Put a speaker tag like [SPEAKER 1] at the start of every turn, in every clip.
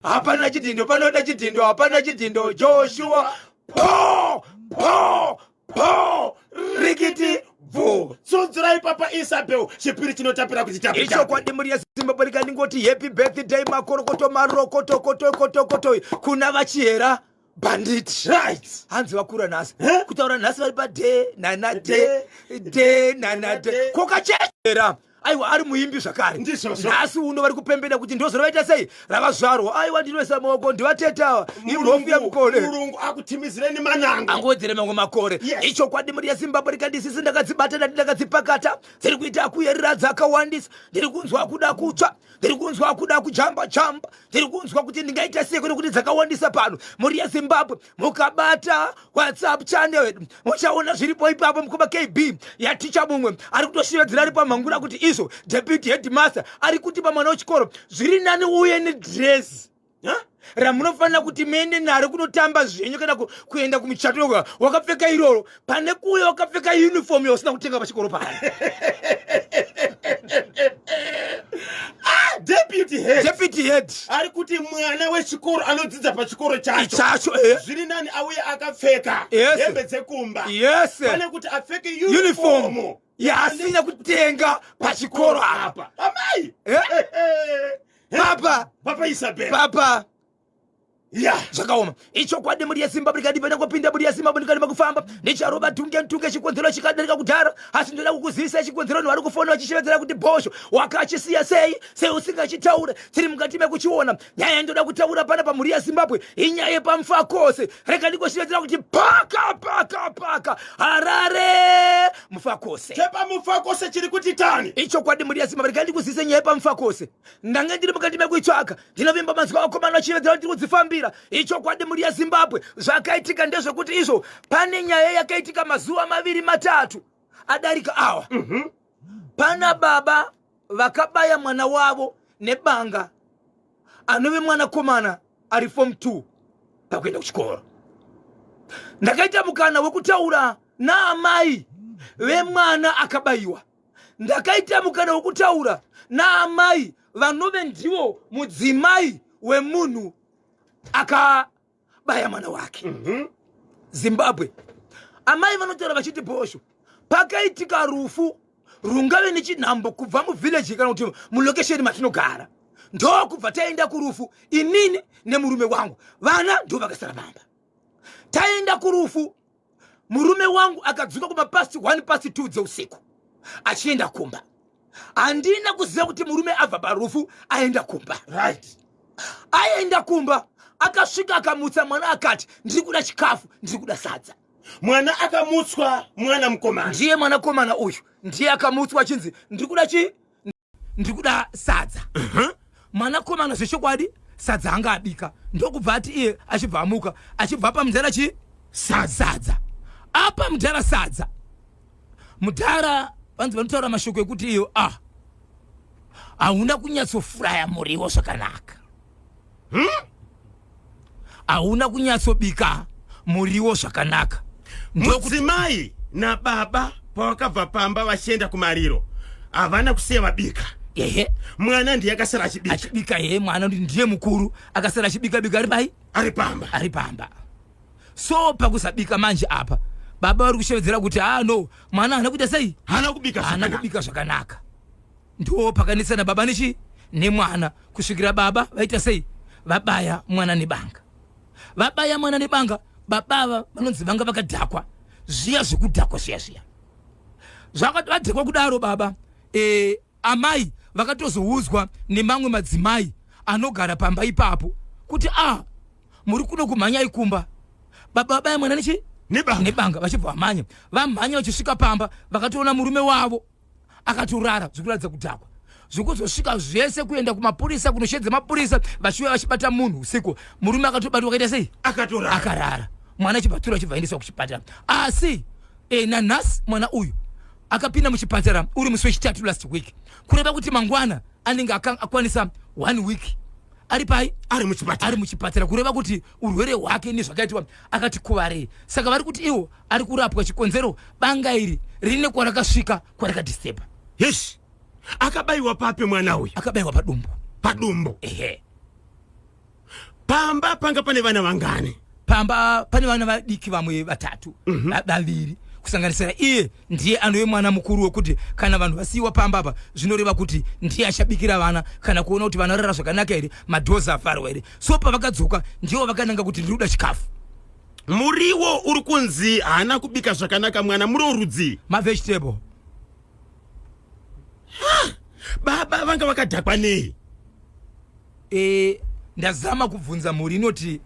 [SPEAKER 1] hapana chidhindo panoda chidhindo hapana chidhindo joshua po po po rikiti bvu tsunzurai papa
[SPEAKER 2] isabel chipiri chinotapira kuti tapichokwadi mhuri yezimbabwe
[SPEAKER 1] rikandingoti happy birthday makorokoto marokotokotokotokoto kuna vachihera bandit right hanzi
[SPEAKER 2] vakura nhasi
[SPEAKER 1] eh? kutaura nhasi vari pade nana de de nana de kokachechera aiwa ari muimbi zvakare nhasi uno vari kupembeda kuti ndozora vaita sei ravazvarwa aiwa ndinoisa maoko ndivatetawa imhofu yamukore murungu akutimidzireni
[SPEAKER 2] mananga angowedzere mamwe makore
[SPEAKER 1] ichokwadi mari yezimbabwe rikandisisi ndakadzibata ndati ndakadzipakata dziri kuita akuyerera dzakawandisa ndiri kunzwa kuda kutsva ndiri kunzwa kuda kujamba jamba ndiri kunzwa kuti ndingaita sei kune kuti dzakawandisa pano mhuri yezimbabwe mukabata whatsapp channel yedu muchaona zviripo ipapo mukoma kb yaticha mumwe ari kutoshevedzera ari pamhangura kuti izvo deputy headmaster ari kuti pamwana wechikoro zviri nani uye nedresi ramunofanira kuti muende naro kunotamba zvenyu kana kuenda kumuchato yoga wakapfeka iroro pane kuuya wakapfeka uniform yausina kutenga pachikoro pano ah, deputy head ari kuti mwana
[SPEAKER 2] wechikoro anodzidza pachikoro chacho chacho eh. zviri nani auye akapfeka hembe dzekumba yes pane kuti apfeke uniform, uniform. yaasina
[SPEAKER 1] kutenga pachikoro apa amai eh?
[SPEAKER 2] papa papa isabel papa
[SPEAKER 1] ya
[SPEAKER 2] zvakaoma
[SPEAKER 1] ichokwadi mhuri yesimba ndikadi pena kupinda mhuri yesimba ndikadi makufamba ndicharoba tunge ntunge chikonzero chikadarika kudhara asi ndoda kukuzivisa chikonzero nhu ari kufona vachishevedzera kuti bhosho wakachisiya sei sei usingachitaure tiri mukati mekuchiona nyaya yandoda kutaura pana pamhuri yezimbabwe inyaya yepamfa kose rega ndikoshivetera kuti paka paka paka harare mufa kose chepamufa kose chiri
[SPEAKER 2] kuti tani ichokwadi mhuri yezimbabwe
[SPEAKER 1] rega ndikuzise nyaya yepamfa kose ndange ndiri mukati mekuitsvaka ndinovimba mazwi akomana vachivetera kuti tiri kudzifambira ichokwadi mhuri yezimbabwe zvakaitika ndezvekuti izvo pane nyaya yakaitika mazuva maviri matatu adarika awa mm -hmm. pana baba vakabaya mwana wavo nebanga anove mwanakomana ari fom 2 pakuenda kuchikoro ndakaita mukana wekutaura naamai vemwana akabayiwa ndakaita mukana wekutaura naamai vanove ndivo mudzimai wemunhu aka baya mwana wake mm -hmm. zimbabwe amai vanotaura vachiti bhosho pakaitika rufu rungave nechinhambo kubva muvhileji kana kuti mulokesheni matinogara ndokubva taenda kurufu inini nemurume wangu vana ndovakasara vamba taenda kurufu murume wangu akadzoka kuma past one past two dzeusiku achienda kumba handina kuziva kuti murume abva parufu aenda kumba right
[SPEAKER 2] aenda
[SPEAKER 1] kumba akasvika akamutsa mwana akati ndiri kuda chikafu ndiri kuda sadza mwana
[SPEAKER 2] akamutswa mwana mukomana ndiye mwanakomana
[SPEAKER 1] uyu ndiye akamutswa achinzi ndiri kuda chii ndiri kuda sadza mwanakomana zvechokwadi sadza anga abika ndokubva ati iye achibva amuka achibva apa mudhara chii sadza apa mudhara sadza mudhara vanzi vanotaura mashoko ekuti iyo ah hauna kunyatsofuraya muriwo zvakanaka hmm? hauna kunyatsobika muriwo zvakanaka mudzimai
[SPEAKER 2] nababa pavakabva pamba vachienda kumariro havana kusiya vabika ehe mwana ndiye akasara achibika achibika ehe mwana ndiye
[SPEAKER 1] mukuru akasara achibika bika ari pai ari pamba
[SPEAKER 2] ari pamba
[SPEAKER 1] so pakusabika manje apa baba vari kushevedzera kuti haa ah, no mwana haana kuita sei haana kubika haana kubika
[SPEAKER 2] zvakanaka
[SPEAKER 1] Ndoo pakanetsana baba nechi nemwana kusvikira baba vaita sei vabaya mwana nebanga. Vabaya mwana nebanga baba ava vanonzi vanga vakadhakwa zviya zvekudhakwa zviya zviya. Zvakati vadhakwa kudaro baba eh, amai vakatozoudzwa nemamwe madzimai anogara pamba ipapo kuti ah muri kuno kumhanya ikumba baba vabaya mwana nechi nebanga, nebanga vachibva vamhanya vamhanya vachisvika pamba vakatoona murume wavo akatorara zvikuratidza kudhakwa zvokuzosvika zvese kuenda kumapurisa kunoshedza mapurisa vachiuya vachibata munhu usiku murume akatobatwa akaita sei akatorara akarara mwana achibatura achibvaendeswa kuchipatara asi e, nanhasi mwana uyu akapinda muchipatara uri musi wechitatu last week kureva kuti mangwana anenge akwanisa one week ari pai ari muchipatara ari muchipatara kureva kuti urwere hwake nezvakaitwa akati kuvarei saka vari kuti iwo ari kurapwa chikonzero banga iri rine kwarakasvika kwarakadisturba yes
[SPEAKER 2] akabayiwa papi mwana uyu
[SPEAKER 1] akabayiwa
[SPEAKER 2] padumbu padumbu ehe pamba panga pane vana vangani pamba pane
[SPEAKER 1] vana vadiki vamwe vatatu mhm. vaviri mm -hmm kusanganisira iye ndiye anove mwana mukuru wekuti kana vanhu vasiyiwa pamba apa zvinoreva kuti ndiye achabikira vana kana kuona kuti vana rara zvakanaka here madhozi afarwa here so pavakadzoka ndivo vakananga kuti ndiri kuda chikafu muriwo
[SPEAKER 2] uri kunzi haana kubika zvakanaka mwana muri orudzii mavegetable baba vanga vakadhakwa nei e,
[SPEAKER 1] ndazama kubvunza mhuri inoti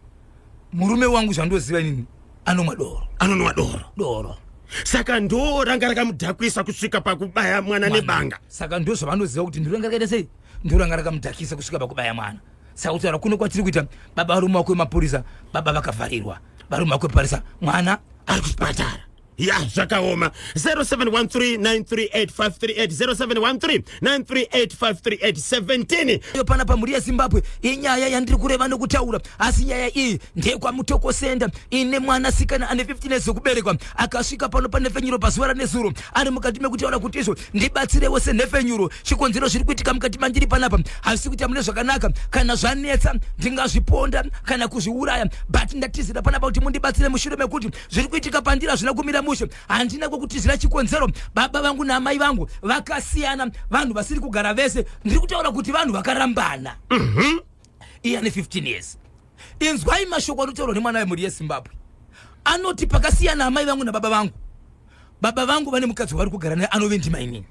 [SPEAKER 1] murume wangu zvandoziva inini anomwa doro anonwa doro doro saka ndo
[SPEAKER 2] ranga rakamudhakwisa kusvika pakubaya mwana nebanga saka ndo zvavanoziva
[SPEAKER 1] kuti ndiro ranga rakaita sei ndiro ranga rakamudhakisa kusvika pakubaya mwana sakutaura kuno kwatiri kuita baba varume wako vemapurisa baba vakavharirwa varume wako veparisa mwana ari kuchipatara
[SPEAKER 2] ya zvakaoma 0713938538 iyo pana pamhuri yezimbabwe
[SPEAKER 1] inyaya yandiri kureva nokutaura asi nyaya iyi ndeyekwamutokosenda ine mwana sikana ane 15 years yekuberekwa akasvika pano pane fenyuro pazuva ranezuro ari mukati mekutaura kuti izvo ndibatsirewo senhepfenyuro chikonzero zviri kuitika mukati mandiri panapa hazvisi kuita mune zvakanaka kana zvanetsa ndingazviponda kana kuzviuraya but ndatizira panapa kuti mundibatsire mushure mekuti zviri kuitika pandiri hazvina kumira mushe handina kwekutizira chikonzero baba vangu naamai vangu vakasiyana vanhu vasiri kugara vese ndiri kutaura kuti vanhu vakarambana mm -hmm. iye ane 15 years inzwai mashoko anotaurwa nemwana wemhuri yezimbabwe anoti pakasiyana amai vangu nababa vangu baba vangu vane mukadzi wavari kugara naye anove ndimainini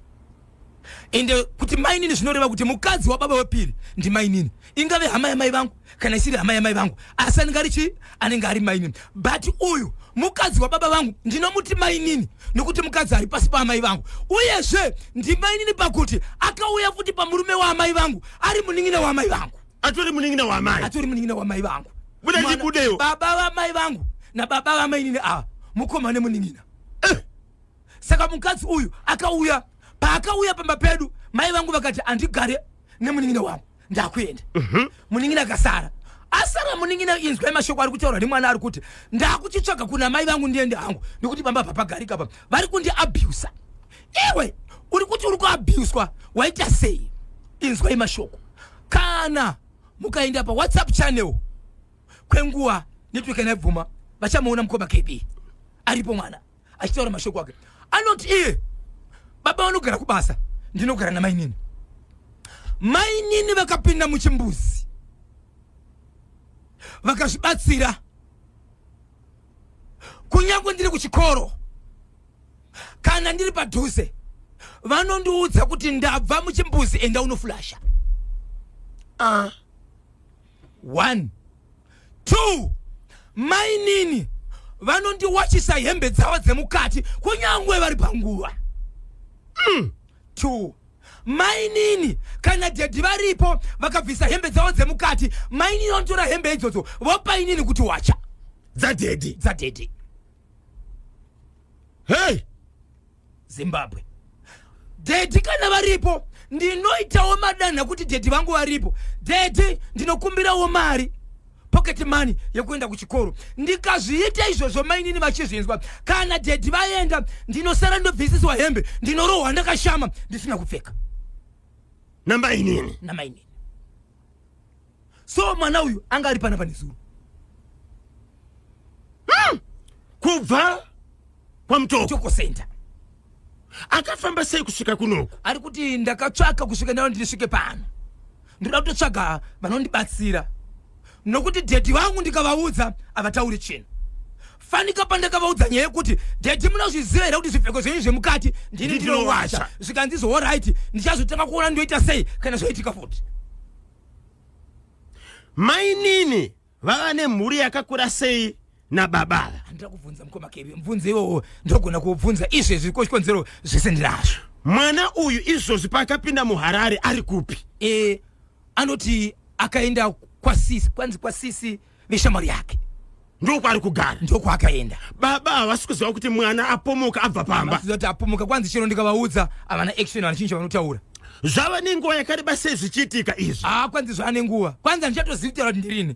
[SPEAKER 1] ende kuti mainini zvinoreva kuti mukadzi wababa wepiri ndimainini ingave hama yamai vangu kana isiri hama yamai vangu asi anenge ari chii anenge ari mainini but uyu mukadzi wababa vangu ndinomuti mainini nokuti mukadzi ari pasi paamai vangu uyezve ndimainini pakuti akauya futi pamurume waamai vangu ari munin'ina waamai vangu atori munin'ina wamai
[SPEAKER 2] atori munin'ina wamai vangu
[SPEAKER 1] buda ndibudeyo
[SPEAKER 2] baba vamai vangu
[SPEAKER 1] nababa vamainini ava mukoma nemunin'ina eh. saka mukadzi uyu akauya paakauya pamba pedu mai vangu vakati andigare nemunin'ina wangu ndakuenda mhm. munin'ina akasara asara munin'ina inzwa mashoko ari kutaurwa nemwana ari kuti ndakuchitsvaga kuna mai vangu ndiende hangu nekuti pamba papagarika pa vari kundiabusa iwe uri kuti uri kuabuswa waita sei inzwai mashoko kana mukaenda pawhatsapp channel kwenguva network yanaibvuma vachamuona mukoma kb aripo mwana achitaura mashoko ake anoti iye baba vanogara kubasa ndinogara namainini mainini vakapinda muchimbuzi vakazvibatsira kunyange ndiri kuchikoro kana ndiri padhuze vanondiudza kuti ndabva muchimbuzi enda unofulasha uh. one two mainini vanondiwachisa hembe dzavo dzemukati kunyange vari panguva mm. 2 mainini kana dhedhi varipo vakabvisa hembe dzavo dzemukati mainini vanotora hembe idzodzo vopa inini kuti wacha dzadhedhi dzadhedhi
[SPEAKER 2] hei
[SPEAKER 1] zimbabwe dhedhi kana varipo ndinoitawo madanha kuti dhedhi vangu varipo dhedhi ndinokumbirawo mari pocket money yekuenda kuchikoro ndikazviita izvozvo mainini vachizvinzwa kana dhedhi vaenda ndinosara ndobvisiswa hembe ndinorohwa ndakashama ndisina kupfeka namainini namainini so mwana uyu anga ari pana pane zuro hmm.
[SPEAKER 2] kubva kwamutoko center akafamba sei kusvika kunoku ari kuti ndakatsvaka
[SPEAKER 1] kusvika ndao ndisvike pano ndinoda kutotsvaga vanondibatsira nokuti dhedhi vangu ndikavaudza havatauri chinhu fanika pandakavaudza nyaya yekuti dhedhi munozviziva here kuti zvipfeko zvenyu zvemukati ndini ndinowasha zvikanzi zvohoraiti ndichazotanga kuona ndoita sei kana zvoitika futi
[SPEAKER 2] mainini vava nemhuri yakakura sei nababa ava handida kubvunza mukoma
[SPEAKER 1] kevi mubvunzo iwowo ndogona kuubvunza izvezvi ko chikonzero zvese ndinazvo mwana uyu
[SPEAKER 2] izvozvi paakapinda muharare ari kupi e anoti
[SPEAKER 1] akaenda kwasisi kwanzi kwasisi veshamwari yake ndokwaari
[SPEAKER 2] kugara ndokwaakaenda
[SPEAKER 1] baba havasi kuziva
[SPEAKER 2] kuti mwana apomoka abva pamba kuti apomoka kwanzi chero
[SPEAKER 1] ndikavaudza havana action vanachinja vanotaura zvava nenguva
[SPEAKER 2] yakareba sei zvichiitika izvi haa kwanzi zvava nenguva
[SPEAKER 1] kwanzi handichatozivitaura kuti ndirini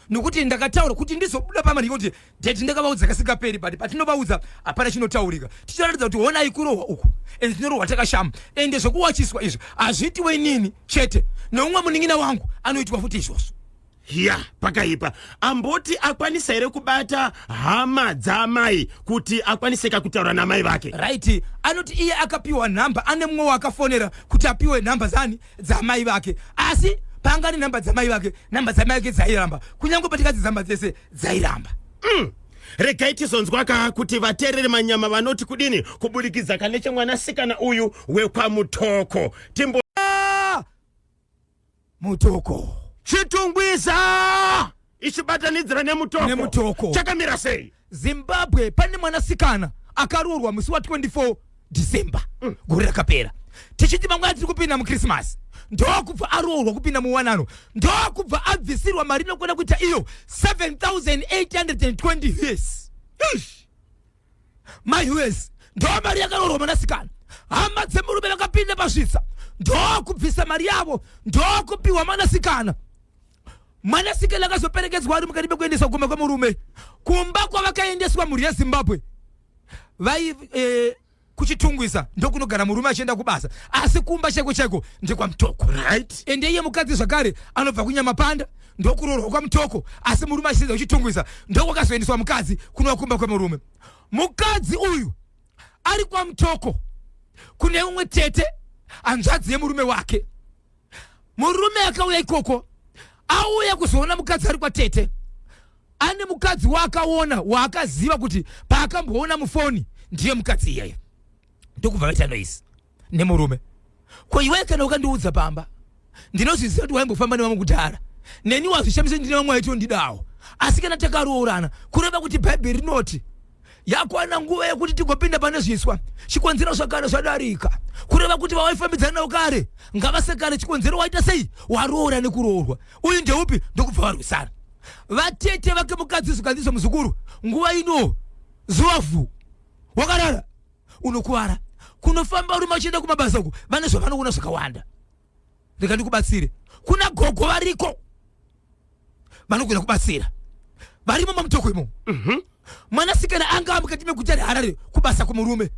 [SPEAKER 1] nokuti ndakataura kuti ndizobuda pamari yekuti deti ndakavaudza kasingaperi but patinovaudza hapana chinotaurika ticharatidza kuti honai kurohwa uku and tinorohwa takashama ende zvekuwachiswa izvi hazviitiwe inini chete noumwe munin'ina wangu anoitwa futi izvozvo hiya
[SPEAKER 2] pakaipa amboti akwanisa here kubata hama dzaamai kuti akwaniseka kutaura namai vake right anoti
[SPEAKER 1] iye akapiwa nhamba ane mumwe waakafonera kuti apiwe nhamba zani dzaamai vake asi paanga ne nhamba dzamai vake nhamba dzamai vake dzairamba kunyange patikadzi dzamba dzese dzairamba mm.
[SPEAKER 2] regai tizonzwaka kuti vateereri manyama vanoti kudini kuburikidza kanechemwanasikana uyu wekwamutoko timbo
[SPEAKER 1] mutoko chitungwiza
[SPEAKER 2] ichibatanidzira nemutoko Nemutoko. chakamira sei zimbabwe pane
[SPEAKER 1] mwanasikana akaroorwa musi wa 24 december gore rakapera tichiti mangwana tiri kupinda mukrisimasi ndokubva aroorwa kupinda muwanano ndokubva abvisirwa mari inokwana kuita iyo 7820 yes Eish! mai wes ndoo mari yakarorwa mwanasikana hama dzemurume vakapinda pasvitsa ndoo kubvisa mari yavo ndoo kupiwa mwanasikana mwanasikana akazoperekedzwa ari mukati mekuendeswa kumba kwemurume kumba kwavakaendeswa mhuri yezimbabwe vai eh, kuchitungwisa ndokunogara murume achienda kubasa asi kumba chaiko chaiko ndekwamtoko right ende iye
[SPEAKER 2] mukadzi zvakare
[SPEAKER 1] anobva kunyamapanda ndokuroorwa kwamutoko asi murume achitiza uchitungwiza ndokwakazoendeswa mukadzi kunova kumba kwemurume mukadzi uyu ari kwamutoko kune umwe tete hanzvadzi yemurume wake murume akauya ikoko auya kuzoona mukadzi ari kwatete ane mukadzi waakaona waakaziva kuti paakamboona mufoni ndiye mukadzi iyeye ndokubva vaita noise nemurume ko iwe kana ukandiudza pamba ndinozviziva kuti waimbofamba nevamwe kudhara neni wazvishamisa ndine vamwe waitondidawo asi kana takaroorana kureva kuti bhaibheri rinoti yakwana nguva yekuti tigopinda pane zviswa chikonzero zvakare zvadarika kureva kuti vawaifambidzana navo kare ngavasekane chikonzero waita sei waroora nekuroorwa uyu ndeupi ndokubva varwisana vatete vake mukadzi zvikanzizwa muzukuru nguva ino zuva vhu wakarara unokuvara kunofamba urume uchienda kumabasa uku vane zvavanoona zvakawanda rega ndikubatsire kuna gogo variko vanogona kubatsira varimo mamutoko imomo Mhm. mwanasikana anga amukati meguta reharare kubasa kumurume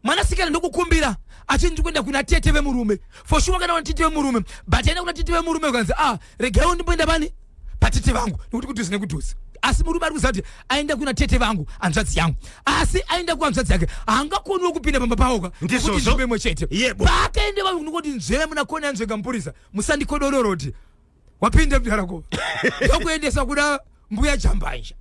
[SPEAKER 1] mwanasikana ndokukumbira achinzi kuenda kuna tete vemurume for sure kana kuna tete vemurume but aenda kuna tete vemurume ukanzi ah regai undimboenda bani patete vangu nekuti kudhuze nekudhuze asi murume ari kuziva kuti aenda kuna tete vangu hanzvadzi yangu asi aenda kuhanzvadzi yake haangakoniwo kupinda pamba pawoka Ndizvozvo. kuti nzvimbo imwe chete Yebo. paakaende vanhu kunokoti nzveve muna kone anzvenga mupurisa musandikodororoti wapinda mudara ko ndokuendesa kuna mbuya jambanja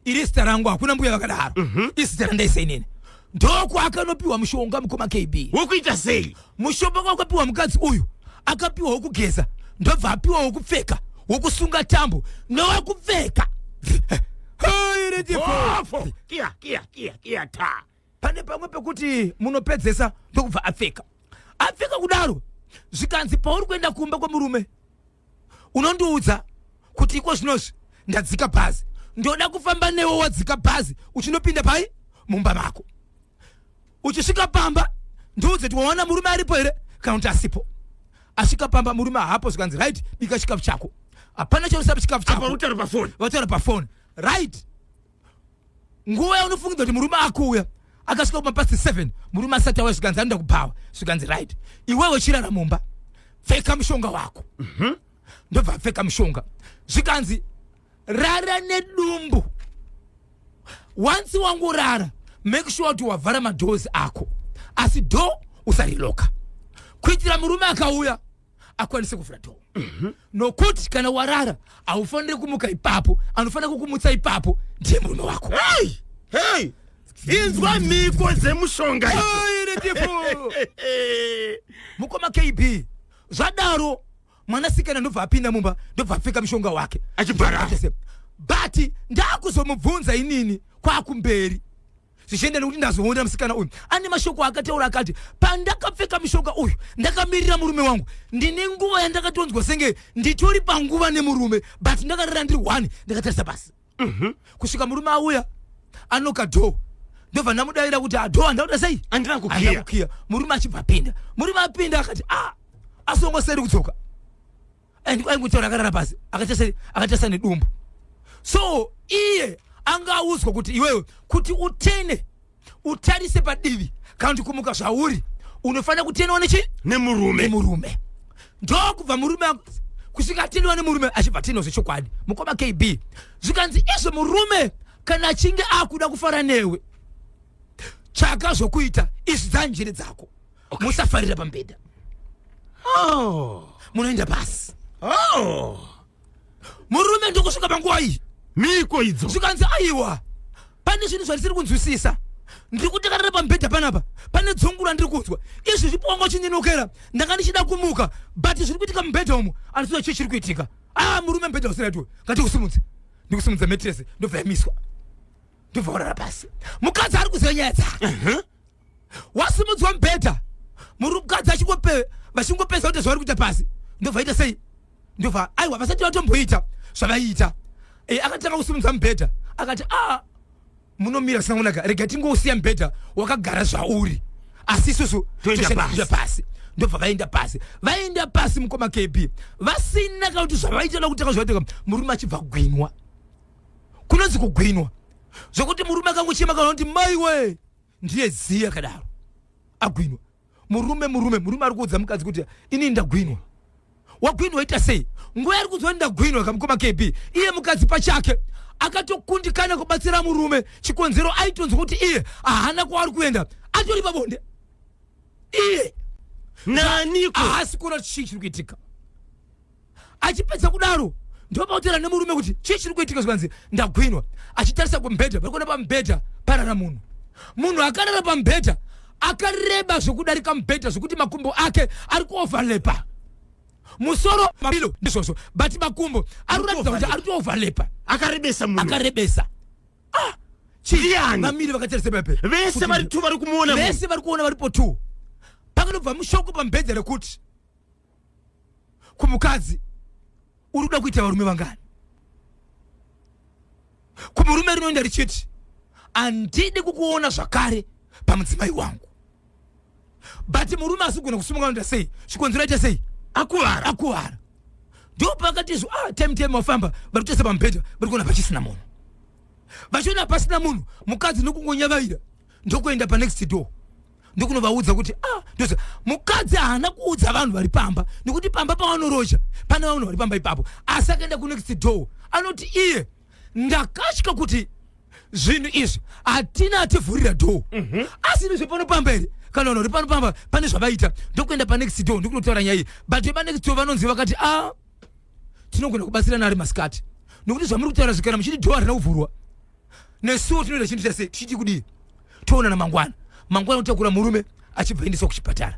[SPEAKER 1] iri zita rangu hakuna mbuya vakadaro mhm. izita randaisa inini ndoko akanopiwa mushonga mukoma kb wokuita sei
[SPEAKER 2] mushonga wakapiwa
[SPEAKER 1] mukadzi uyu akapiwa wokugeza ndobva apiwa wokupfeka wokusunga tambo nowekupfeka
[SPEAKER 2] pane pamwe pekuti
[SPEAKER 1] munopedzesa ndokubva apfeka apfeka kudaro zvikanzi pauri kuenda kumba kwemurume unondiudza kuti iko zvinozvi ndadzika bhazi ndoda kufamba newe wadzika bhazi uchinopinda pai mumba mako uchisvika pamba ndiudze kuti waona murume aripo here kana kuti asipo asvika pamba murume haapo zvikanzi right bika chikafu chako hapana chausapa chikafu chako vataura
[SPEAKER 2] pafoni
[SPEAKER 1] right nguva yaunofungidza kuti murume akuuya akasvika kuma past seven murume asati auya zvikanzi anoda kubhawa zvikanzi right iwewe chirara mumba pfeka mushonga wako mhm. ndobva apfeka mushonga zvikanzi rara nedumbu once wangorara make sure kuti wavhara madhozi ako asi dho usariloka kuitira murume akauya akwanise kuvhura dhoo mhm. nokuti kana warara haufaniri kumuka ipapo anofanira kukumutsa ipapo ndiye murume wako
[SPEAKER 2] inzwa mhiko dzemushonga
[SPEAKER 1] mukoma kb zvadaro mwanasikana ndobva apinda mumba ndobva apfeka mushonga wake achibhara
[SPEAKER 2] but
[SPEAKER 1] ndakuzomubvunza inini kwakumberi zvichienda nekuti ndazoona musikana uyu ane mashoko akataura akati pandakapfeka mushonga uyu ndakamirira murume wangu ndine nguva yandakatonzwa senge nditori panguva nemurume but ndakarara ndiri one ndakatarisa pasi mhm. kusvika murume auya anoka dho ndobva ndamudaira kuti adho ah, andakuda sei andina kukiya
[SPEAKER 2] murume achibva apinda
[SPEAKER 1] murume apinda akati a ah, asongoseri kudzoka aingotaura akarara pasi akatasa nedumbu so iye anga audzwa kuti iwewe kuti utene utarise padivi kana kuti kumuka zvauri unofanira kutenewa nechi nemurume nemurume ndokubva murume kusvika atenewa nemurume achibva atenewa zvechokwadi mukoma kb zvikanzi izvo murume kana achinge akuda kufara newe tsvaka zvokuita izvi dzanjere dzako okay. musafarira pambhedha oh. munoenda pasi oh. murume ndokusvika panguva iyi miko idzo
[SPEAKER 2] zvikanzi aiwa
[SPEAKER 1] pane zvinhu zvandisiri kunzwisisa ndiri kutekarira pamubhedha panapa pane dzungu randiri kunzwa izvi zvipongo chinyinukira ndanga ndichida kumuka but zviri kuitika mubhedha umu andiziva chii chiri kuitika ah murume mubhedha usiratiwe ngati kusimudze ndikusimudza metrese ndobva yamiswa ndobva warara pasi mukadzi ari kuziva nyaya dzake wasimudzwa mubhedha murukadzi achingope vachingopesa kuita zvavari kuita pasi ndobvaita sei ndobva aiwa vasati vatomboita zvavaiita e, eh, akatanga kusimudza mubhedha akati a ah, munomira sangonaka rega tingousiya mubhedha wakagara zvauri asi isusu toenda pasi ndobva vaenda pasi vaenda pasi mukoma kb vasina kauti zvavaita nakutanga zvaiteka murume achibva gwinwa kunonzi kugwinwa zvokuti murume akangochema kana kuti maiwe ndiye zii akadaro agwinwa murume murume murume ari kuudza mukadzi kuti inini ndagwinwa wagwinwa ita sei nguva yari kuziva ndagwinwa kamukoma kb iye mukadzi pachake akatokundikana kubatsira murume chikonzero aitonzwa kuti iye ahana kwaari kuenda atori pabonde iye
[SPEAKER 2] naniko ahasi kuona
[SPEAKER 1] chii chiri kuitika achipedza kudaro ndopautira nemurume kuti chii chiri kuitika zvikanzi ndagwinwa achitarisa kumubhedha parikuona pamubhedha parara munhu munhu akarara pamubhedha akareba zvekudarika mubhedha zvekuti makumbo ake ari kuoverlepa musoro mabilo ndizvozvo but makumbo ari kuratidza kuti ari kuoverlepa akarebesa munhu akarebesa ah, vamiri vakatarisa pepe vese vari two vari
[SPEAKER 2] kumuona vese vari kuona varipo
[SPEAKER 1] two pakanobva mushoko pamubhedha rekuti kumukadzi uri kuda kuita varume vangani kumurume rinoenda richiti handidi kukuona zvakare pamudzimai wangu but murume asi kugona kusimuka anoita sei chikonzero aita sei akuvara akuvara ndo pakati izvo ah, time time wafamba vari kutesa pamubhedha vari kuona pachisina munhu vachiona pasina munhu mukadzi nokungonyavaira ndokuenda panext door ndokunovaudza kuti ah, ndozi mukadzi haana kuudza vanhu vari pamba nekuti pamba pavanoroja pane vanhu vari pamba ipapo asi akaenda kunext door anoti iye ndakatya kuti zvinhu izvi hatina ativhurira door mhm. asi ino zvepano pamba here kana vanhu vari pano pamba pane zvavaita ndokuenda panext door ndokunotaura nyaya iyi but vepanext door vanonzi vakati a ah, tinogona kubatsirana ari masikati nokuti zvamuri kutaura zvikana muchiti door harina kuvhurwa nesuwo tinoita chinhu chase tichiti kudii toonana mangwana mangwana kutakura murume achibva endeswa kuchipatara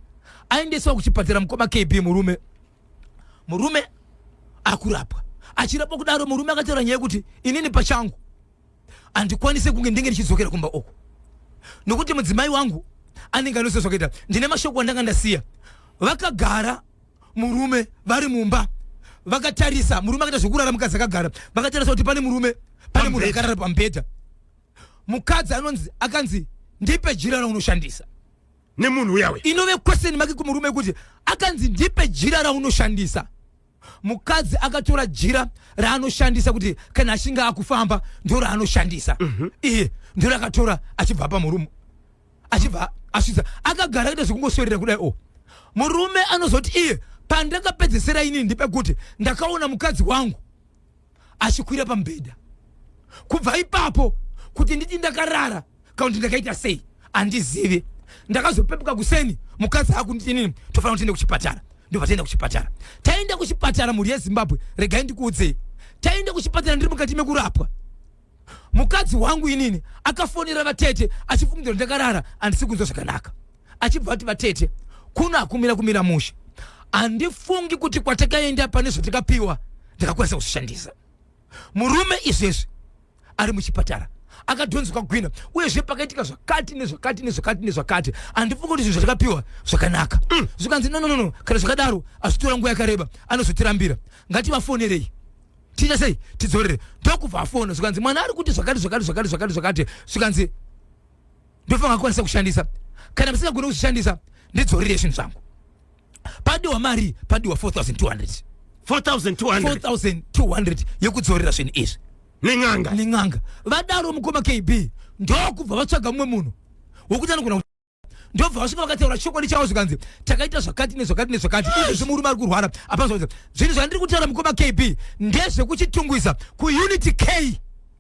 [SPEAKER 1] aendeswa kuchipatara mukoma kb murume murume akurapwa achirapwa kudaro murume akataura nyaya yekuti inini pachangu handikwanise kunge ndenge ndichidzokera kumba uku nokuti mudzimai wangu anenge anose zvakaita ndine mashoko andanga ndasiya vakagara murume vari mumba vakatarisa murume akaita zvekurara mukadzi akagara vakatarisa kuti pane murume pane munhu akarara pamubhedha mukadzi anonzi akanzi ndipe jira raunoshandisa nemunhu
[SPEAKER 2] uyawe inove question make
[SPEAKER 1] kumurume yekuti akanzi ndipe jira raunoshandisa mukadzi akatora jira raanoshandisa kuti kana achinge akufamba ndo raanoshandisa mhm. iye ndo rakatora achibva pamurume achibva asvitsa akagara akaita zvekungoswerera kudai o oh. murume anozoti iye pandakapedzesera inini ndepekuti ndakaona mukadzi wangu achikwira pamubhedha kubva ipapo kuti nditi ndakarara kana kuti ndakaita sei handizivi ndakazopepuka kuseni mukadzi akunditi inini tofanira kutiende kuchipatara ndobva taenda kuchipatara taenda kuchipatara mhuri yezimbabwe regai ndikuudzei taenda kuchipatara ndiri mukati mekurapwa mukadzi wangu inini akafonera vatete achifungidzira kuti ndakarara handisi kunzwa zvakanaka achibva ati vatete kuno hakumira kumira mushe handifungi kuti kwatakaenda pane zvatakapiwa ndakakwanisa kuzvishandisa murume izvezvi ari muchipatara akadhonzwa gwina uyezve pakaitika zvakati nezvakati nezvakati nezvakati handifungi kuti zvinhu zvatakapiwa zvakanaka mm. zvikanzi nononono kana zvakadaro azvitora nguva yakareba anozotirambira ngativafonerei tiite sei tidzorere ndokubva afona zvikanzi mwana ari kuti zvakati zvakati zvakati zvakati zvakati zvikanzi ndofanga kukwanisa kushandisa kana musingagone kuzvishandisa ndidzorere zvinhu zvangu padiwa mari padiwa 4200 4200 4200 yekudzorera zvinhu izvi nen'anga nen'anga vadaro mukoma kb ndokubva vatsvaga mumwe munhu wokuti anogona ndobva vasvika vakataura chokwadi chavo zvikanzi takaita zvakati nezvakati nezvakati izvezvi murume ari kurwara apana zvinhu zvandiri kutaura mukoma kb ndezvekuchitungwiza kuunity k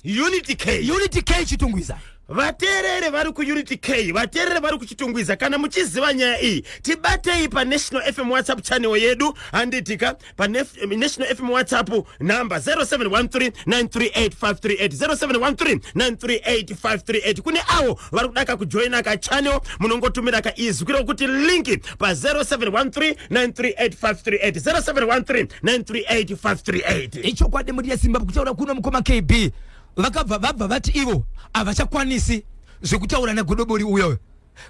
[SPEAKER 1] unity k unity k chitungwiza vateerere
[SPEAKER 2] vari kuunity k vateerere vari kuchitungwiza kana muchiziva nyaya iyi tibatei panational fm whatsapp channel yedu handitika paNational FM WhatsApp number 0713938538 kune avo vari kuda kakujoina kachannel munongotumira kaizwi kiro kuti linki pa 0713938538 ichokwadi mhuri
[SPEAKER 1] yezimbabwe kutaura kuno mukoma kb vakabva vabva vati ivo havachakwanisi zvekutaura nagodobori uyoyo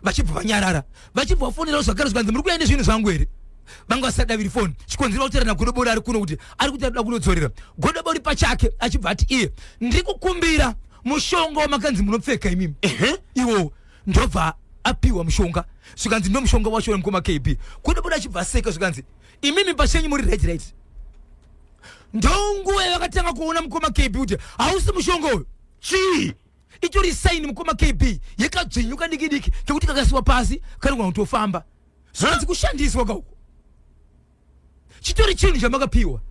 [SPEAKER 1] vachibva vanyarara vachibva vafonerawo zvakare zvikanzi muri kuya nezvinhu zvangu here vanga vasadaviri foni chikonzera kutorana godobori ari kuno kuti ari kuti arikuda kunodzorera godobori pachake achibva ati iye ndiri kukumbira mushonga wamakanzi munopfeka imimi iwo ndobva apiwa mushonga zvikanzi ndo mushonga wacho wemukoma kb godobori achibva aseka zvikanzi imimi pachenyu muri right right ndonguva yavakatanga kuona mukoma kb kuti hausi mushonga uyu chii
[SPEAKER 2] itori saini
[SPEAKER 1] mukoma kb yekadzvinyuka diki diki kekuti kakasiwa pasi kanogona kutofamba zvanzi kushandiswa kauko chitori chinhu chamakapiwa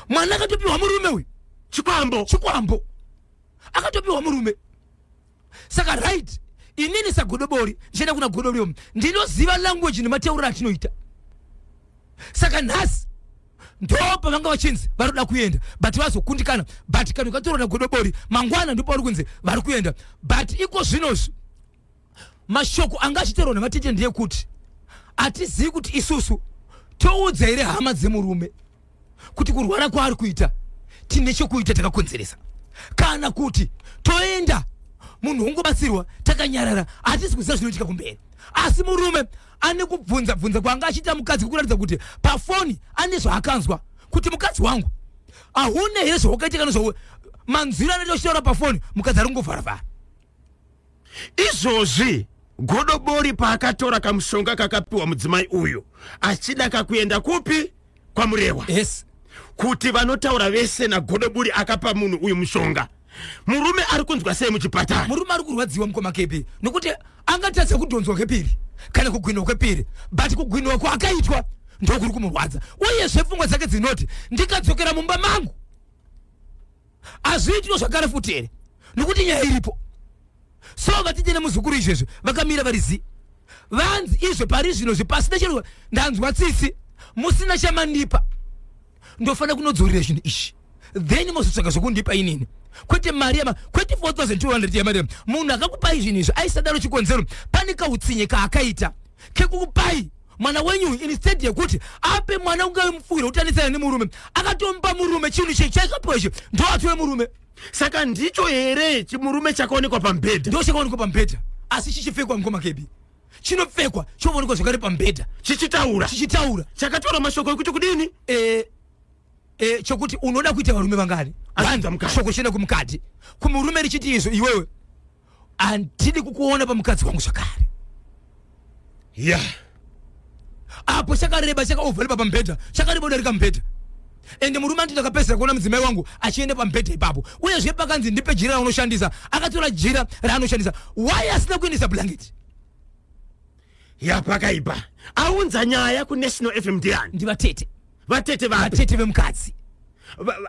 [SPEAKER 1] mwana akatopiwa murume uyu chikwambo chikwambo akatopiwa murume saka right inini sagodobori ndichaenda kuna godobori ndinoziva language nematauriro atinoita saka nhasi ndopa vanga vachinzi vari kuda kuenda but vazokundikana but kana ukatorona godobori mangwana ndipo vari kunzi vari kuenda but iko zvinozvi mashoko anga achitaurwa nevatete ndeyekuti hatizivi kuti isusu toudza here hama dzemurume kuti kurwara kwaari kuita tine chokuita takakonzeresa kana kuti toenda munhu wongobatsirwa takanyarara hatisi kuziva zvinoitika kumberi asi murume ane kubvunza bvunza kwaanga achiita mukadzi kukuratidza kuti pafoni ane zvaakanzwa kuti mukadzi wangu ahune here zvawakaita kana zvawe manzwiro anoita uchitaura pafoni mukadzi ari kungovharavhara izvozvi
[SPEAKER 2] godobori paakatora kamushonga kakapiwa mudzimai uyu achida kakuenda kupi kwamurewa yes
[SPEAKER 1] kuti vanotaura
[SPEAKER 2] vese nagodoburi akapa munhu uyu mushonga murume ari kunzwa sei muchipatara murume ari kurwadziwa mukoma
[SPEAKER 1] kepi nokuti angatadza kudhonzwa kwepiri kana kugwinwa kwepiri but kugwinwa kwaakaitwa ndokuri kumurwadza uyezve pfungwa dzake dzinoti ndikadzokera mumba mangu hazviitwe zvakare futi here nokuti nyaya iripo so vatete nemuzukuru izvezvi vakamira vari zi vanzi izvo pari zvino zvipasina chero ndanzwa tsitsi musina chamandipa ndofanira kunodzorera zvinhu izvi then mozotsvaga zvokundipa inini kwete mari yama kwete 4200 yamari yama munhu akakupai zvinhu izvi aisadaro chikonzero pane kautsinye kaakaita kekukupai mwana wenyu uyu instead yekuti ape mwana ungave mupfuwiro wekutanisana nemurume akatomupa murume chinhu chii chaikapiwa ichi ndoatove murume saka ndicho
[SPEAKER 2] here chimurume chakaonekwa pambhedha ndo chakaonekwa pambhedha
[SPEAKER 1] asi chichipfekwa mukoma kebi chinopfekwa choonekwa zvakare pambhedha chichitaura chichitaura chakataura
[SPEAKER 2] mashoko ekuti kudini eh, eh, chokuti
[SPEAKER 1] unoda kuita varume vangani Azvidza mukadzi. shoko chienda kumukadzi kumurume richiti izvo iwewe andidi kukuona pamukadzi wangu zvakare ya yeah. apo chakareba chakaovhalipa pamubhedha chakareba udarika mubhedha ende murume anditi akapedzisira kuona mudzimai wangu achienda pamubhedha ipapo uyezve pakanzi ndipe jira raunoshandisa akatora jira raanoshandisa why asina kuendesa blanketi yapakaipa
[SPEAKER 2] aunza nyaya kunational fm ndiani ndivatete
[SPEAKER 1] vatete vatete
[SPEAKER 2] vemukadzi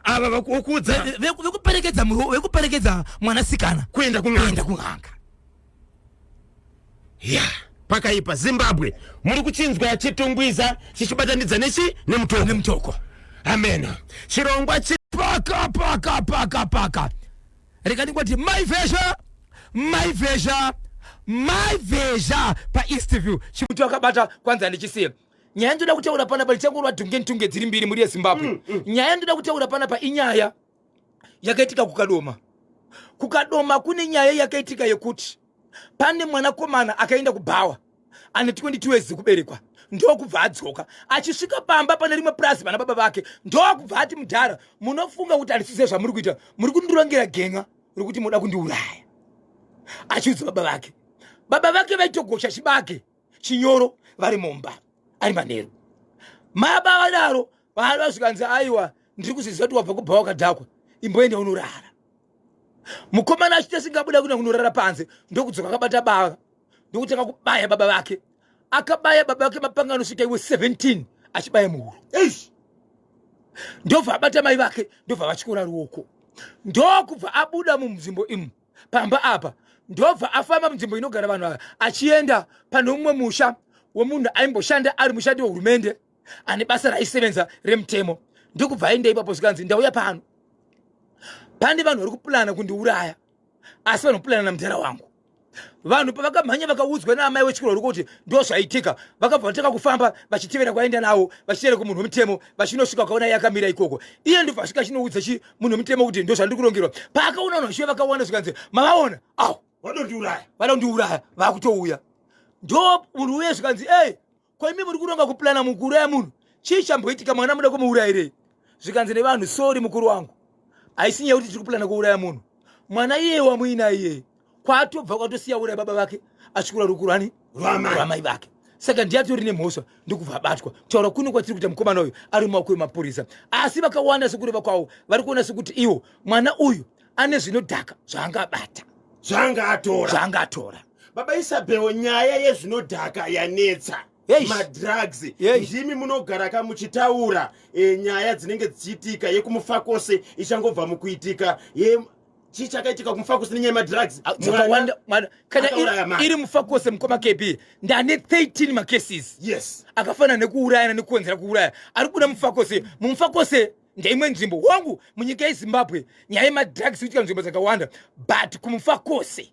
[SPEAKER 1] ava
[SPEAKER 2] vakuudza vekuperekedza
[SPEAKER 1] vekuperekedza mwanasikana kuenda kuenda
[SPEAKER 2] kun'anga ya pakaipa zimbabwe muri kuchinzwa chitungwiza chichibatanidza nechi nemutoko nemutoko ameno chirongwa chi paka paka paka
[SPEAKER 1] paka rega ndingoti my vesha my vesha my vesha paeastview chikuti wakabata kwanza ndichisiye nyaya ndoda kutaura panapa ndichangorwa dhunge ntunge dziri mbiri muri yezimbabwe mm, mm. nyaya ndoda kutaura panapa inyaya yakaitika kukadoma kukadoma kune nyaya yakaitika yekuti pane mwanakomana akaenda kubhawa ane 22 yezi kuberekwa ndokubva adzoka achisvika pamba pane rimwe purazi vana baba vake ndokubva ati mudhara munofunga kuti handisize zvamuri kuita muri kundirongera genga rekuti munoda kundiuraya achiudza baba vake baba vake vaitogosha chibage chinyoro vari mumba ari manheru maba vadaro vaaiva zvikanzi aiwa ndiri kuziziva kuti wabva kubva wakadhakwa imboenda unorara mukomana achita singabuda kuenda kunorara panze ndokudzoka akabata bava ndokutanga kubaya baba vake akabaya baba vake mapanga anosvika iwe 17 achibaya muhuro ndobva abata mai vake ndobva vatyora ruoko ndokubva abuda mumzimbo imu pamba apa ndobva afamba munzvimbo inogara vanhu ava achienda pane umwe musha wemunhu aimboshanda ari mushandi wehurumende ane basa raisevenza remutemo ndikubva aenda ipapo zvikanzi ndauya pano pane vanhu vari kupulana kundiuraya asi vanopulana namudhara wangu vanhu pavakamhanya vakaudzwa naamai wechikoro uri kuti ndo zvaitika vakabva vatanga kufamba vachitevera kwaenda nawo vachitevera kumunhu wemutemo vachinosvika kwakaona yakamira ikoko iye ndobva asvika achinoudza munhu mutema kuti ndozvandiri kurongerwa paakaona vanhu vashiva vakawanda zvikanzi mavaona aw vanondiuraya vanondiuraya vakutouya ndo munhu uye zvikanzi ey koimi muri kuronga kuplana mukuru ya munhu chii chamboitika mwana muda kumuurayirei zvikanzi nevanhu sori mukuru wangu haisi nyaya kuti tiri kuplana kuuraya munhu mwana iyeye wamuina iyeye kwatobva kwatosiya ura baba vake achikura rukurani rwamai vake saka ndiye atori nemhosva ndokubva abatwa kutaura kuno kwatiri kuita mukomana uyu ari mumaoko emapurisa asi vakawanda sekureva kwavo vari kuona sekuti iwo mwana uyu ane zvinodhaka zvaanga abata zvaanga atora zvaanga atora baba
[SPEAKER 2] isabheo nyaya yezvinodhaka yanetsa madrugs ndimi munogara ka muchitaura e, nyaya dzinenge dzichiitika yekumufakose ichangobva mukuitika chii chakaitika kumufakosi nenyaya yemadrugs ah, kana
[SPEAKER 1] iri mufakosi mukoma kb ndane 13 macases yes akafanana nekuurayana nekukonzera kuuraya ari kuda mufakosi mumufakosi ndeimwe nzvimbo wangu munyika yezimbabwe nyaya yemadrugs kuitika nzvimbo dzakawanda but kumufakosi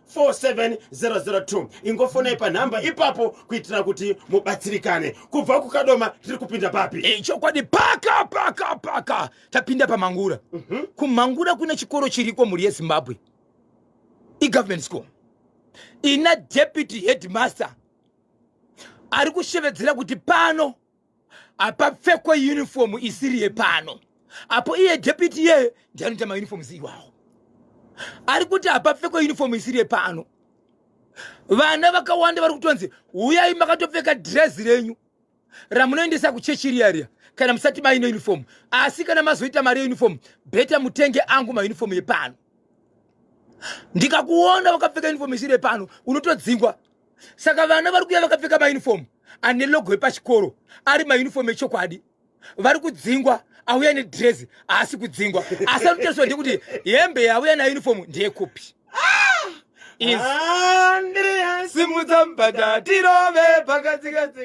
[SPEAKER 2] 47002 ingofonai panhamba ipapo kuitira kuti mubatsirikane kubva kukadoma tiri kupinda papi eh, chokwadi paka
[SPEAKER 1] paka paka tapinda pamangura mm -hmm. kumangura kune chikoro chiriko mhuri yezimbabwe igovernment school ina deputy headmaster ari kushevedzera kuti pano apapfekwe uniform isiri yepano apo iye deputy ye ndianoita mauniforms iwawo ari kuti apapfekwe uniform isiri yepano vana vakawanda vari kutonzi huyai makatopfeka drezi renyu ramunoendesa kuchechi riya riya kana musati maine uniform asi kana mazoita mari yeuniform beta mutenge angu mauniform yepano ndikakuona wakapfeka uniform isiri yepano unotodzingwa saka vana vari kuuya vakapfeka maunifomu ane logo yepachikoro ari maunifomu echokwadi vari kudzingwa auya nedresi haasi kudzingwa asi anotariswa ndekuti hembe yauya naunifomu ndeyekupi ah! simudza mbada tirove pakatsikatsi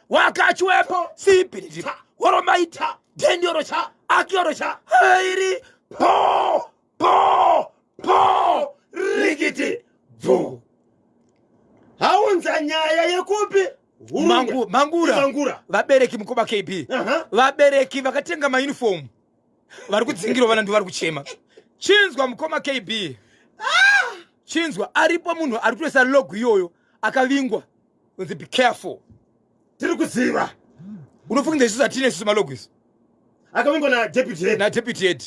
[SPEAKER 1] wakachiwepo sibhiriripa woromaita dhendiorocha akiorocha hairi po po po rikiti bvu
[SPEAKER 2] haunza nyaya yekupi Mangu, mangura,
[SPEAKER 1] mangura vabereki mukoba kb uh -huh. vabereki vakatenga maunifomu vari kudzingirwa vana ndivari kuchema chinzwa mukoma kb ah! chinzwa aripo munhu ari kutoisa logo iyoyo akavingwa unzi be careful tiri kuziva
[SPEAKER 2] unofunga
[SPEAKER 1] isu zvatine
[SPEAKER 2] isu malogo
[SPEAKER 1] isu akavingwa na deputy
[SPEAKER 2] head na
[SPEAKER 1] deputy head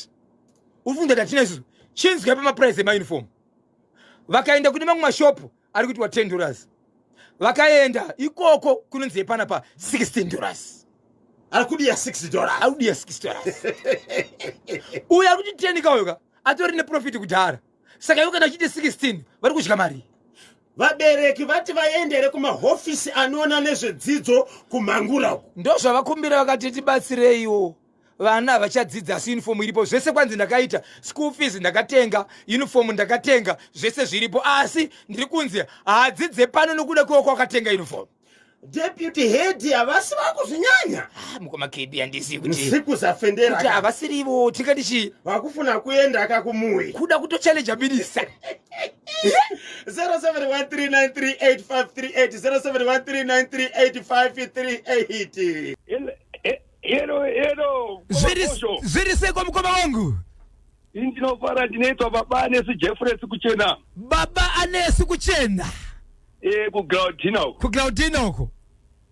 [SPEAKER 1] unofunga zvatine isu chinzwa pa maprice ema uniform vakaenda kune mamwe mashop ari kuti wa 10 dollars vakaenda ikoko kunonzi yepana pa 16 dollars ari
[SPEAKER 2] kudiya 6 dollars ari kudiya 6 dollars
[SPEAKER 1] uya kuti 10 kaoyoka atori ne profit kudhara saka ivo kana achiti 16 vari kudya mari vabereki
[SPEAKER 2] vati vaendere kumahofisi anoona nezvedzidzo kumhangura uku ndozvavakumbira vakati
[SPEAKER 1] tibatsireiwo vana havachadzidza asi yunifomu iripo zvese kwanzi ndakaita school fees ndakatenga yunifomu ndakatenga zvese zviripo asi ndiri kunzi haadzidze pano nokuda kwewa kwakatenga yunifomu deputy
[SPEAKER 2] head havasi vakuzvinyanya ah, mukoma kebi
[SPEAKER 1] handisi kutisikuzafenderati
[SPEAKER 2] havasirivo
[SPEAKER 1] tingati chii vakufuna kuenda
[SPEAKER 2] akakumuwi kuda kutochallenja
[SPEAKER 1] minista
[SPEAKER 2] 0713938538
[SPEAKER 3] zviri
[SPEAKER 1] seko mukoma wangu ndinofara
[SPEAKER 3] ndinoitwa baba anesi jefresi kuchena baba anesi
[SPEAKER 1] kuchena Eh
[SPEAKER 3] kuGlaudina uko. kuglaudina uko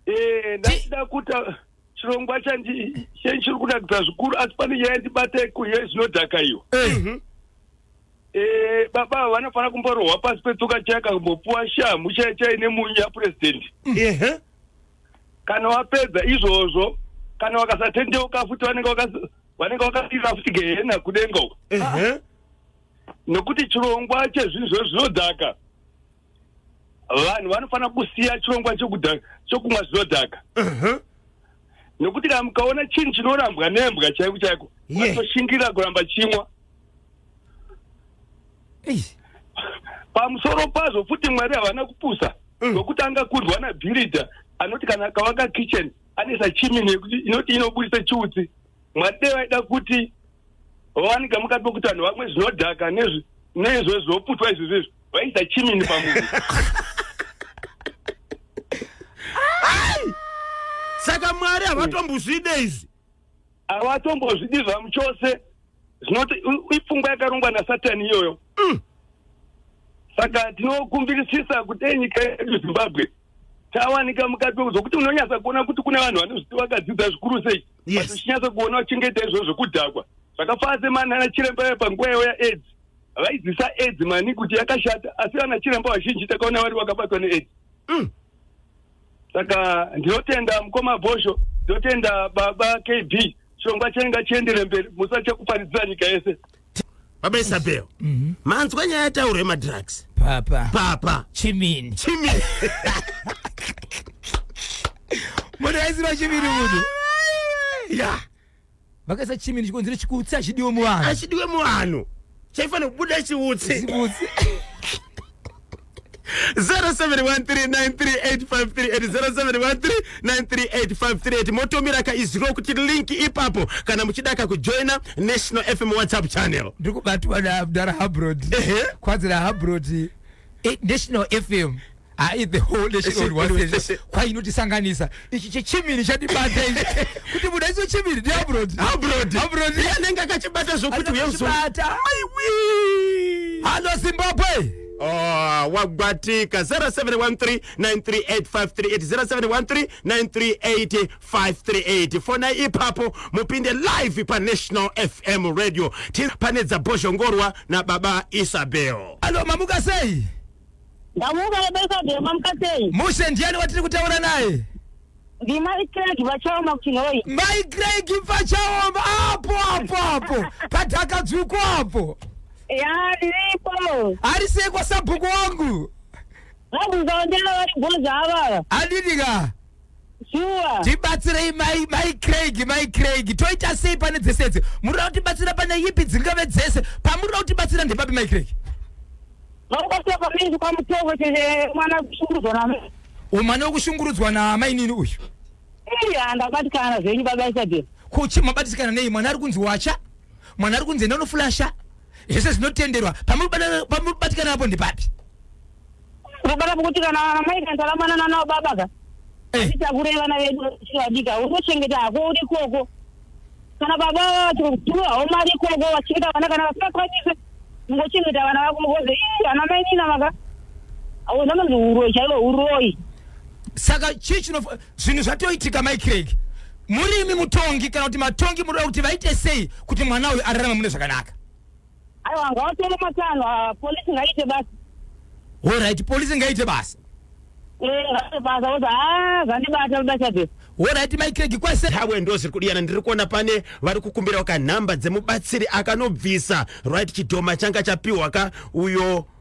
[SPEAKER 1] Eh ndachida
[SPEAKER 3] kuta chirongwa chandi chiri kunakidza zvikuru asi pane nyaya yandibata yekuye zvinodhaka iyo. Eh, Eh baba ava vanofanira kumborohwa pasi petsoka chaya kambopuwa shamhu chaya chaya ine munyu yapresident. Ehe. Kana wapedza izvozvo kana wakasatendeuka futi vanenge wakas- vanenge wakasira futi gehena kudenga uko. Ehe. Nokuti chirongwa chezvinhu zvozvinodhaka vanhu vanofanira kusiya chirongwa chokumwa zvinodhaka nokuti kana mukaona chinhu chinorambwa nembwa chaiko chaiko vatoshingirira kuramba chimwa pamusoro pazvo futi mwari havana kupusa mm. nokuti anga kurwa nabhiridha anoti kana akavaka kitchen anesa chimini yekuti inoti inobudisa chiutsi mwari dei vaida kuti vawanika mukati mekutanho vamwe zvinodhaka nezvi neizvo zvoputwa izvi zvizvi vaisa chimini pamunhu
[SPEAKER 2] saka mwari havatombozvide izvi havatombozvidi
[SPEAKER 3] zvamu chose zvinoti ipfungwa yakarongwa nasatani iyoyo mm. saka tinokumbirisisa kuti enyika yedu zimbabwe tawanika mukati wekuzokuti unonyasa kuona kuti kune vanhu vanozviti vakadzidzira zvikuru sei Yes. Uchinyatsa kuona uchengeta izvozvo kudhakwa. Zvakafanana semana ana chiremba vaya panguva yavo yaAIDS. Vaizisa AIDS mani kuti yakashata asi vana chiremba vazhinji takaona vari vakabatwa neAIDS. Mm. Saka ndinotenda mukoma Bhosho, ndinotenda baba KB. Chirongwa chenyu ngachiendere mberi, musatya kuparidzira nyika yese. baba isabel
[SPEAKER 2] mhm. manzwa nyaya yataurwa yemadrugs papa papa chimini
[SPEAKER 1] chimini munhu aiziva chimini munhu ya
[SPEAKER 2] vakaisa
[SPEAKER 1] chimini chikonzero chikutsi achidiwe muvanhu achidiwe muvanhu
[SPEAKER 2] chaifanira kubuda chiutsi 0713938538 motomira kaiziro kuti link ipapo kana muchida kakujoina national fm whatsapp channel ndikubatwa namdara
[SPEAKER 1] habrod kwanzira habrod eh, national fm hai the whole nation was kwainotisanganisa ichi chechimiri chatibata ichi kuti muda icho chimiri ndi abroad abroad abroad anenge akachibata
[SPEAKER 2] zvokuti uyezobata aiwi
[SPEAKER 1] halo zimbabwe Oh,
[SPEAKER 2] wagwatika 0713938538 0713938538 fona ipapo mupinde live panational fm radio ti pane dzabhozhongorwa nababa isabel alo mamuka
[SPEAKER 1] sei ndamuka
[SPEAKER 4] baba isabel mamuka sei mushe ndiani watiri
[SPEAKER 1] kutaura naye
[SPEAKER 4] ndimai craig
[SPEAKER 1] vachaoma kuti nhoi mai craig pachaoma apo apo apo padhakadzvuku apo ya
[SPEAKER 4] ndiripo ari sei
[SPEAKER 1] kwasabhuku wangu vabvunzawo
[SPEAKER 4] ndela vari bhoza avava handidi ka
[SPEAKER 1] shuwa
[SPEAKER 4] tibatsirei mai
[SPEAKER 1] mai craig mai craig toita sei pane dzese idzi murira kutibatsira pane ipi dzingave dzese pamurira kutibatsira ndepapi mai craig vakubatsira
[SPEAKER 4] pamiri kwamutovo chete mwana kushungurudzwa name Umane
[SPEAKER 1] wekushungurudzwa naamainini uyu. Iya
[SPEAKER 4] ndabatikana zvenyu baba Isabel. Kuchi mabatikana
[SPEAKER 1] nei mwana ari kunzi wacha? Mwana ari kunzi ndanofulasha. Zvese zvinotenderwa. Pamubatikana apo ndipapi?
[SPEAKER 4] Kubata kuti kana vana mai kanta ramana nana baba ka. Eh. Titakure vana vedu chivadika. Unochengeta hako uri koko. kana baba vachikutuwa homari ikoko vachikuita vana kana vasingakwanise mungochengeta vana vako mukoze ii ana mai nina maka zvamanzi uroyi chaivo uroyi saka
[SPEAKER 1] chii chino zvinhu zvatoitika mai craig muri imi mutongi kana kuti matongi muroda kuti vaite sei kuti mwana uyu ararame mune zvakanaka
[SPEAKER 4] aiwa ngavatore matanho ah, polisi ngaiite basa horaiti
[SPEAKER 1] polisi ngaiite basa eh, ngaiite
[SPEAKER 4] basa oza ha ah, zvandibata ludachadhesi horaiti maikregi
[SPEAKER 1] kwese hawe ndo zviri kudiyana ndiri
[SPEAKER 2] kuona pane vari kukumbirawo kanhamba dzemubatsiri akanobvisa right chidhoma changa chapiwa ka uyo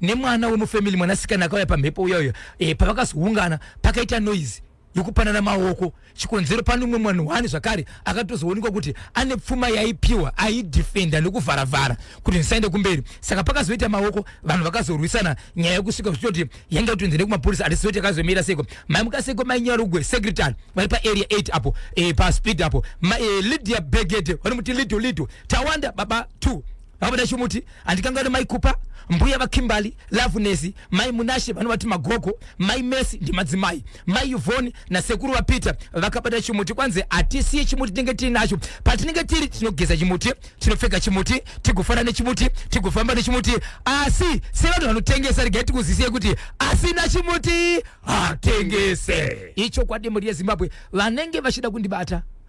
[SPEAKER 1] nemwana wemufamily mwanasikana akauya pamhepo uya uya e, pavakazoungana pakaita noise yekupanana maoko chikonzero pane umwe mwana wani zvakare akatozoonekwa kuti ane pfuma yaipiwa aidefenda nekuvharavhara kuti ndisaende kumberi saka pakazoita maoko vanhu vakazorwisana nyaya yekusvika zvichitoti yange kutonzi nekumapurisa hatisi zoti akazomira seko mai mukaseko mai nyarugwe secretary vari paarea 8 apo e, paspeed apo ma, e, lydia begete vanomuti lido lido tawanda baba 2 vabuda chimuti handikangauri mai kupa mbuya vakimbali lavunesi mai munashe vanovati magogo mai mesi ndimadzimai mai yuvhoni nasekuru vapeter vakabata chimuti kwanzi hatisiye chimuti tinenge tiinacho patinenge tiri tinogeza chimuti tinopfeka chimuti tigofana nechimuti tigofamba nechimuti asi sevanhu vanotengesa regai tikuzisiye kuti asina chimuti hatengese ichokwadi mhuri yezimbabwe vanenge vachida kundibata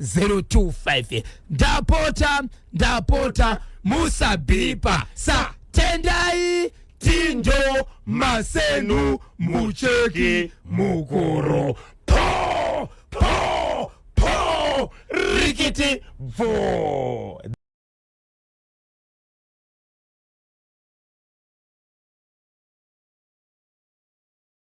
[SPEAKER 1] 025 ndapota ndapota musabipa sa tendai tindo masenu mucheki mukuru po po po rikiti bvo